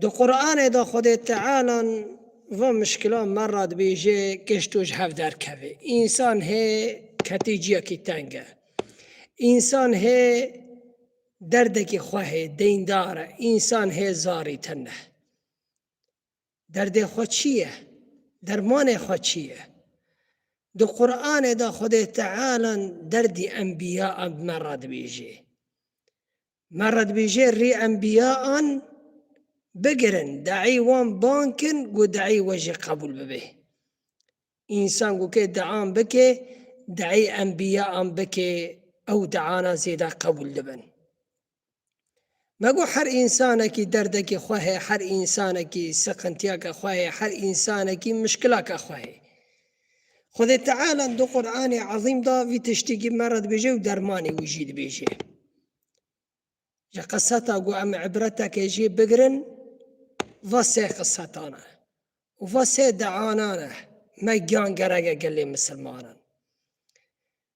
Di Quranê de Xwedê Teala van mişkilan me re dibêje, Kişt û ji hev derkeve. Însan hê ketê ciyekî teng e. Însan hê derdekî xwe hê, deyndar e. Însan hê zarî tend e. Derdê xwe çi ye? Dermanê xwe çi ye? Di Quranê de Xwedê Teala derdî enbiya me re dibêje. Me re dibêje rê enbiya an bigirin, de'î wan ban kin ku de'î we jî qebûl bibe. Însan ku ke de'an bike, de'î enbiya an bike ew de'ana zêde qebûl dibin. Me got her însanekî derdekî xwe heye, her însanekî siqintiyeke xwe heye, her însanekî mişkilake xwe heye. Xwedê Teala di Qur'anê Ezîm da vî tiştîkî me re dibêje û dermanê wî jî dibêje. Ji qiseta ku em îbreteke jê bigirin va sê qisetan e û va sê deanan e me giyan gereke gelê misilmanan.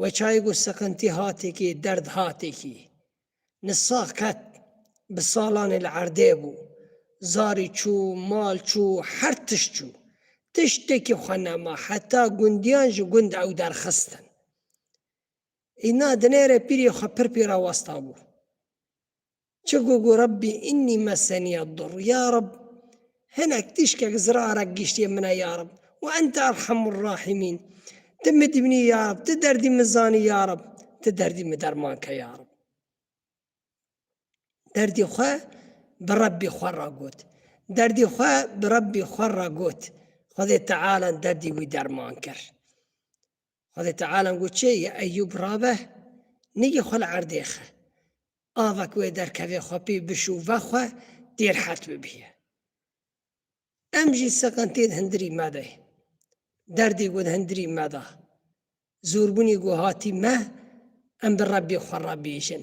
We çayê got seqintî hatekî, derd hatekî. Ni sax qet bi salanê li erdê bû. Zarî çû, mal çû, her tişt çû. Tiştekî xwe nema, heta gundiyan ji gund ew derxistin. Îna dinêre pîrê xwe pir pî re westabû. Çi got ku Rabbî înnî mesenî'd-dur, ya Rabb hinek tîşkek zirarek gîştî'ê min e ya Rabb, we ente erhemur-rahîmîn, ti min dîbînî ya Rabb, ti derdî min zanî ya Rabb, ti derdî min derman ke ya Rabb. Derdî xwe bi Rabbî xwe re got. Derdî xwe bi Rabbî xwe re got. Xwedê Teala derdî wî derman kir. Xwedê Teala got çê yê Eyyûb rabe, nigê xwe li erdê xe. Ava ku wê derkevê xwe pê bişûve xwe dê rehet bibîye. Em jî siqintê di hindirî me de ye. Derdê ku di hindirî me de, zorbûnê ku hatî me, em bi Rebbê xwe re bêjin.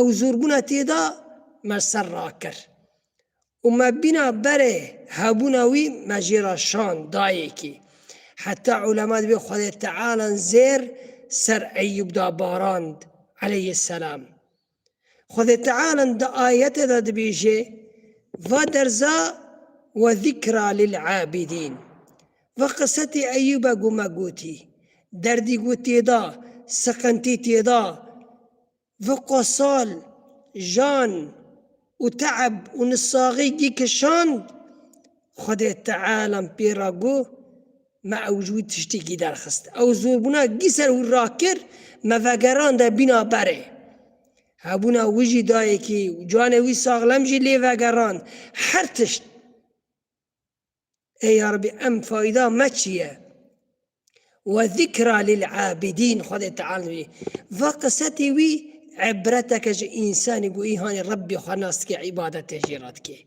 Ew zorbûna tê de me ser rakir û me bîna berê hebûna wî me jê re şand dayêkî. Heta ulema di vê Xwedê Tealan zêr ser Eyyûb de barand aleyhîsselam. Xwedê Tealan di ayetê de dibêje, Va derza we zîkra lil'abîdîn. Va qisetê Eyyûbe ku me gotî, derdî ku tê de, siqintî tê de, Vı qo sal, jan u te'eb u nisaxi gi kişand, Xwedê Tealam pê ra gu, Me ew ji wî tiştî gi derxist. Ew zorbuna gi ser wî rakir, me vegerande bîna berê. Hebuna wî jî dayêkî u canê wî saxlem jî lê vegerand. Her tişt. Ey yarbi em fayda me çi ye? Ve zikra lil abidîn Xwedê Teala wî. Va qisetê wî ibreteke ji însanî ku îhanê Rebbê xwe nas dike îbadetê jê re dike.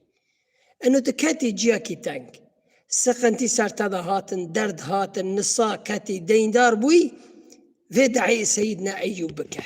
Ino tu ketî ciyakî teng. Siqintî ser te de hatin, derd hatin, nisa ketî, deyndar bûyî, vê dehê Seyîdna Eyyûb bike.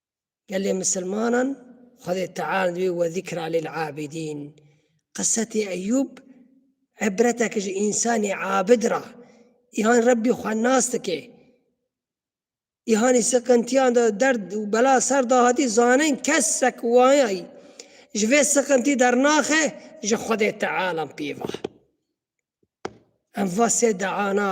Gelê misilmanan Xwedê Teal wî we zîkra lil abîdîn. Qisetê Eyûb îbreteke ji însanê abid ra. Îhan Rebbî xwe nas dike. Îhanî siqintiyan de derd û bela ser da hatî zanin kesek wayayî ji vê siqintî dernaxe ji Xwedê Tealan pêva. Em va sê deana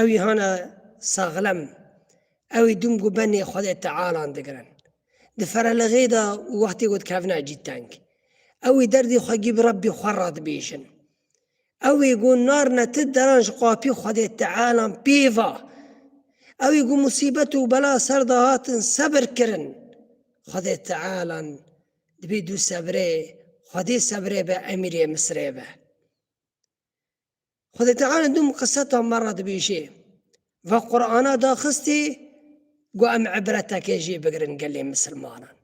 Ewî hana saxlem, ewî dûm ku benê Xwedê Tealan digirin. Di ferelixê de û wextê ku dikevne cî teng, ewî derdê xwe gî bi Rebbê xwe re dibêjin. Ewî ku narine ti deran ji qapî Xwedê Tealan pê va. Ewî ku musîbet û bela ser de hatin sebir kirin. Xwedê Tealan dibê dû sebrê, Xwedê sebrê be emîrê Misirê be. Xwedê Teala du miqiseta me re dibêje, va Qur'ana daxistê got em ibreteke jê bigirin gelê misilmanan.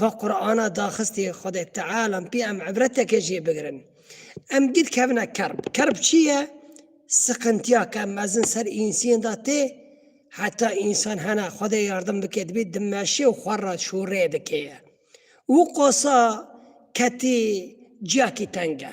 Va Qur'ana daxistê Xwedê Teala pê em ibreteke jê bigirin. Em gid kevine kerb. Kerb çi ye? Siqintiya ke mezin ser însiyên de tê, heta însan hene Xwedê yardim bike dibê dimeşe û xwe re şûrê dike ye. Û qosa ketê ciyakî teng e.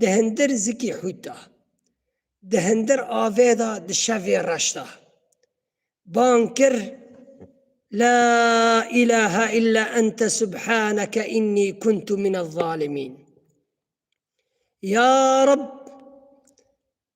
Di hindir zikî hût da. Di hindir avê da di şevê reş da. Bang kir La îlahe illa ente subhaneke înnî kuntu mine zalimîn. Ya Reb!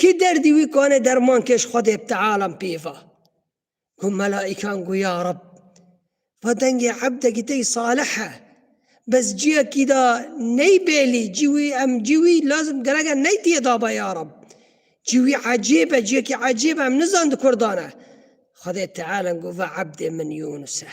Kî derdî wî kane derman kêş Xwedê bi tealam pêva. Got melaîkan got ya Reb. Va dengê ebdekî te yî salih e. Bes cîya kî da ney bêlî cî wî em cî wî lazim gereke ney tîye daba ya Reb. Cî wî ecêb e cîya kî ecêb e em nizan di kurdan e. Xwedê tealam got va ebdê min Yûnus e.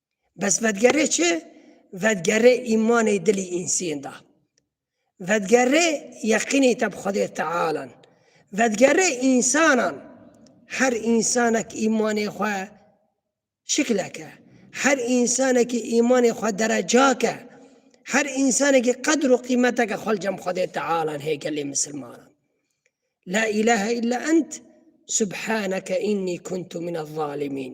Bes vedgerê çi? Vedgerê îmanê dilî însên da. Vedgerê yeqînê te bi Xwedê Tealan. Vedgerê însanan. Her însanek îmanê xwe şikleke. Her însanekî îmanê xwe derecake. Her însanekî qedr û qîmeteke xwe li cem Xwedê Tealan hê gelê misilmanan. La îlahe illa ent subhaneke înnî kuntu min ez-zalimîn.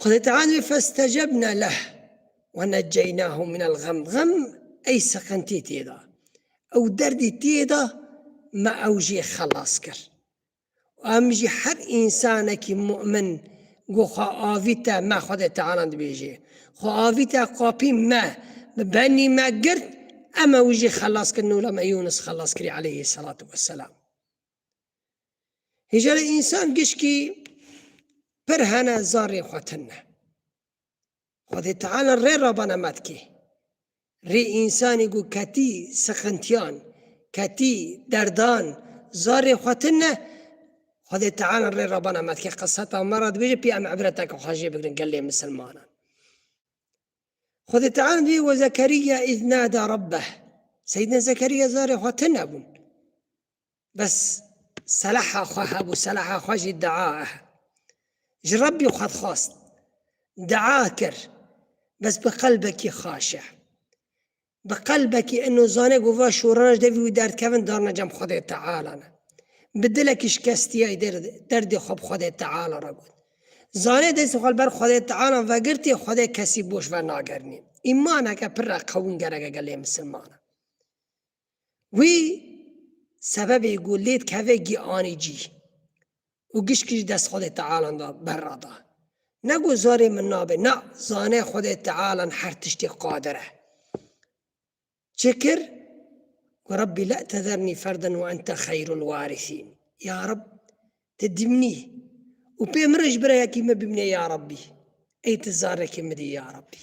Xwedê Teala wê festecebna leh ve neceynahu minel gem. Gem ey siqintî tê de, ew derdî tê de me ew jî xelas kir. Û em jî her însanekî mu'min ku xwe avîte me Xwedê Teala dibêjê, xwe avîte qapî me, bi benî me girt, em ew jî xelas kirin û lem ê Yûnis xelas kirî aleyhî selatu weselam. Hêjara însan gişkî pir hene zarê xwe tine. Xwedê Teala rê rabana metkê. Rê însanî ku ketî sixintiyan, ketî derdan, zarê xwe tine, Xwedê Teala rê rabana metkê qiseta me re dibêje pê em ibreteke xwe jê bigirin gelê misilmanan. Xwedê Teala dibê we Zekeriya îz nada Rabbeh. Seyyidina Zekeriya zarê xwe tine bûn. Bes selaha xwe hebû, selaha xwe jî dua e. Ji Rebbî xwe dixwast, dua kir, bes bi qelbekî xaş e. Bi qelbekî ino zane ku va şorana ji devî wî derdkevin darine cem Xwedê Teala ne. Bi dilekî şikestiyayî derdê xwe bi Xwedê Teala re got. Zanê destê xwe li ber Xwedê Teala vegirtî Xwedê kesî boş vernagerinî. Îmaneke pir re qewim gerek e gelê misilmanan. Wî sebebê ku lê dikeve gî anî cî û gişkî ji dest Xwedê Tealan da berra da. Ne ku zarê min nabe, na, zane Xwedê Tealan her tiştê qadir e. Çi kir? Ku Rebbî la tezernî ferden wa ente xeyrul warîsîn. Ya Reb, ti dîmnî û pê min re ji birayekî me bimnê ya Rebbî. Ey ti zarekê min dî ya Rebbî.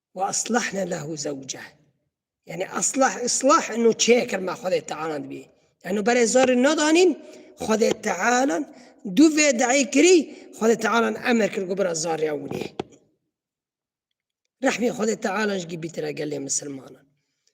Wa aslahne lehu zewce. Yani aslah islah inu çêkir ma Xwedê Teala dibî. Yani berê zarî nadanîn Xwedê Teala du vê deî kirî Xwedê Teala emir kir ku bira zariya winê. Rehmê Xwedê Teala ji gî bîtire gelê misilmanan.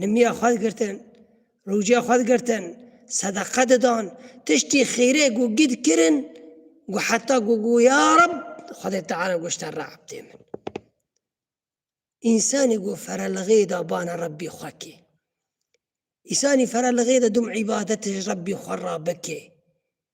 Nimiya xwe digirtin, rûciya xwe digirtin, sedeqe didan, tiştî xêrê ku gî dikirin ku heta ku got ya Reb Xwedê Teala goşta Re'b tê min. Însanî ku ferelixê da bana Rebbî xwe kê. Îsanî ferelixê de dum îbadetê ji Rebbî xwe re bikê.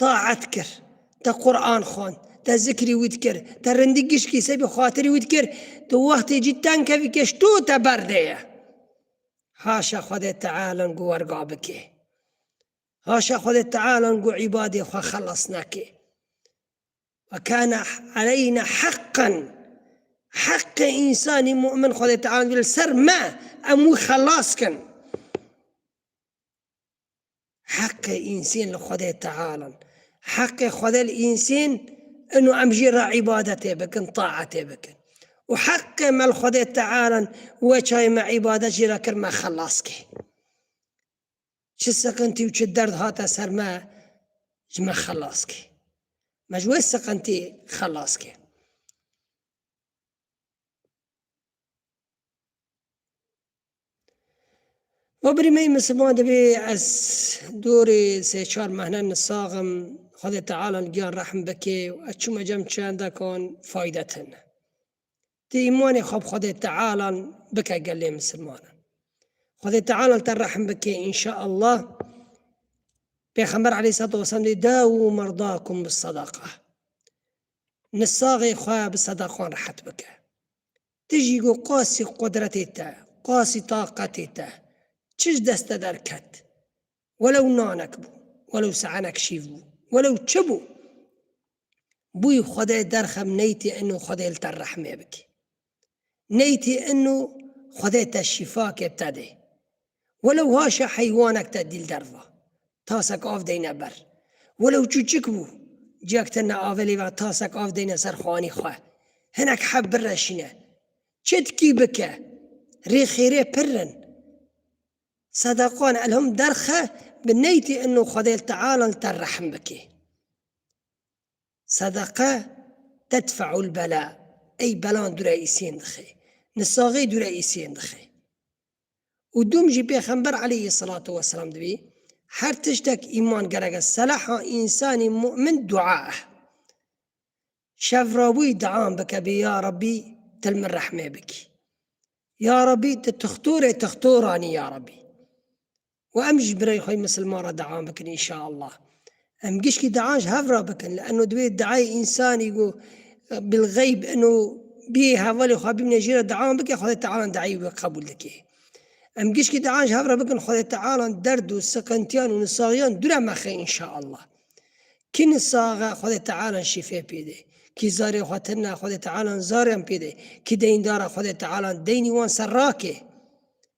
Taet kir, te Quran xwend, te zikrî wî dikir, te rindî gişkî sey bi xatirî wî dikir, tu wextê cî teng kevî kêş tu te berdê ye. Haşa Xwedê Tealan ku werga bikê. Haşa Xwedê Tealan ku îbadê xwe xelas nekê. Ve kana aleyna heqan. Heqê însanî mu'min Xwedê Tealan li ser me em wî xelas kin. Heqê însên li Xwedê Teala in. Heqê Xwedê li însên in û em jî re îbadetê bikin, taetê bikin. Û heqê me li Xwedê Teala in, wê çayê me îbadet jî re kir me xelas kir. Çi siqintî û çi derd hate ser me ji me xelas kir. Me ji wê siqintî xelas kir. Ma birî me yî misilman divê ez dorê sê çar mehne nisax im, Xwedê Teala li giyan rehm bike û ez çûme cem çendekan fayde tine. Ti îmanê xwe bi Xwedê Teala bike gel lê misilmanan. Xwedê Teala li te rehm bike înşeallah. Pêxember aleyhisselatu vesselam dê dawû merdakum bis sedaqa. Nisaxê xwe bi sedakan rehet bike. Ti jî got qasî qudretê te, qasî taqetê te, çi ji dest te derket? Welew nanek bû, welew se'enek şîv bû, welew çi bû, bûyî Xwedê derxem neytê ino Xwedê li te rehmê bike. Neytê ino Xwedê te şîfakê te dê. Welew haşa heywanek te dîl derva, tasek av deyne ber. Welew çûçik bû, ciyek te neavelê ve tasek av deyne ser xwanî xwe. Hinek heb bireşîne. Çi dikî bike. Rê xêrê pirr in. Sedaqan elhom derxe bi neytê inno Xwedê li teala li te rehm bikê. Sedeqe tedfe'ul bela, ey belan dûre îsên dixê. Nisaxê dûre îsên dixê. û dûm jî Pêxember aleyhî selatu weselam dibî, her tiştek îman gerek e, selaha însanî mu'min dua e. Şevrabûyî dian bike bî ya Rabbî til min rehmê bikî. Ya Rabbî ti tixtorê tixtoranî ya Rabbî. û em ji birayê xwe misilman re deam bikin înşaallah. Em gişkî dean ji hev re bikin li eno divê deayê însanî ku bilxeyb eno biyê hevalê xwe bimîne jê re deam bike Xwedê Teala deayê wê qebûl dike. Em gişkî dean ji hev re bikin Xwedê Teala derd û siqintiyan û nisaxiyan dûre mexe înşaallah. Kî nisaq e Xwedê Teala şîfe pêde. Kî zarê xwe tend e Xwedê Teala zariyan pêde. Kî deyndar e Xwedê Teala deynî wan ser rake.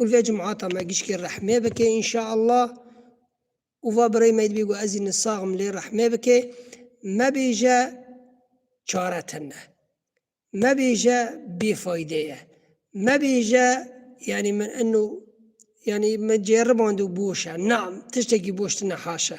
Û vê cumata me gişkê rehmê bike înşaallah. Û va birayê me dibê ku ez îni sax im lê rehmê bike. Mebêje çare tune. Mebêje bêfayde ye. Mebêje yanî min ino yanî min cêriband û boş e. Na, tiştekî boş tune haşa.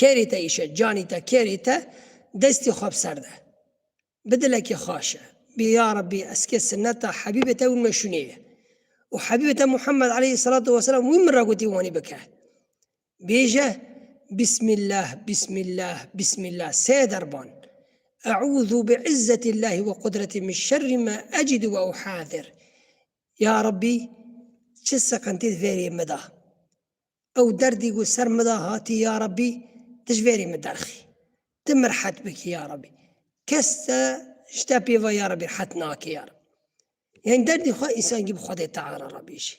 Kêrî te îşe, canî te, kêrî te, destî xwe bi ser de. Bi dilekî xaş e. Bî ya Rebbî ez kê sineta Hebîbê te wî min re şûnîye. Û Hebîbê te Muhammed aleyhî selatû weselam wî min re gotî wanî bike. Bêje, Bîsmîllah, Bîsmîllah, Bîsmîllah sê derban. Eûzû bi izzetîllahî we qudretî min şerrî ma ecidû we uhâzir. Ya Rebbî çi siqintî di vê rê min de. Ew derdî ku ser min de hatî ya Rebbî tu ji verî min derxî. Tu min rihet bikî ya Rebbî. Kes te ji te pêva ya Rebbî rihet nake ya Rebbî. Yanî derdî xwe însan gî bi Xwedê Teala re bêjî.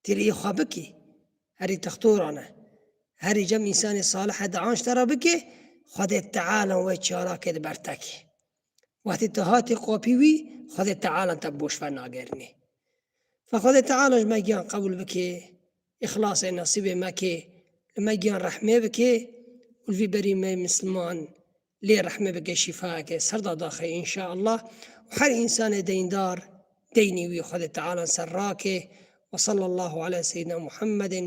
Têleyî xwe bikî. Herî textoran e. Herî cem însanê salih e di anşte re bikê, Xwedê Teala we çarake di ber te kê. Wextê tu hatî qopî wî, Xwedê Teala te bi boşver nagerinê. Fa Xwedê Teala ji me giyan qebûl bikê, îxlasê nesîbê me kê, li me giyan rehmê bikê û li vî berî me Misliman lê rehmê bike şîfayeke ser da daxê înşaallah û her însanê deyndar deynî wî Xwedê Teala ser rakê. Wesallallahu ala seyyidina Muhammedin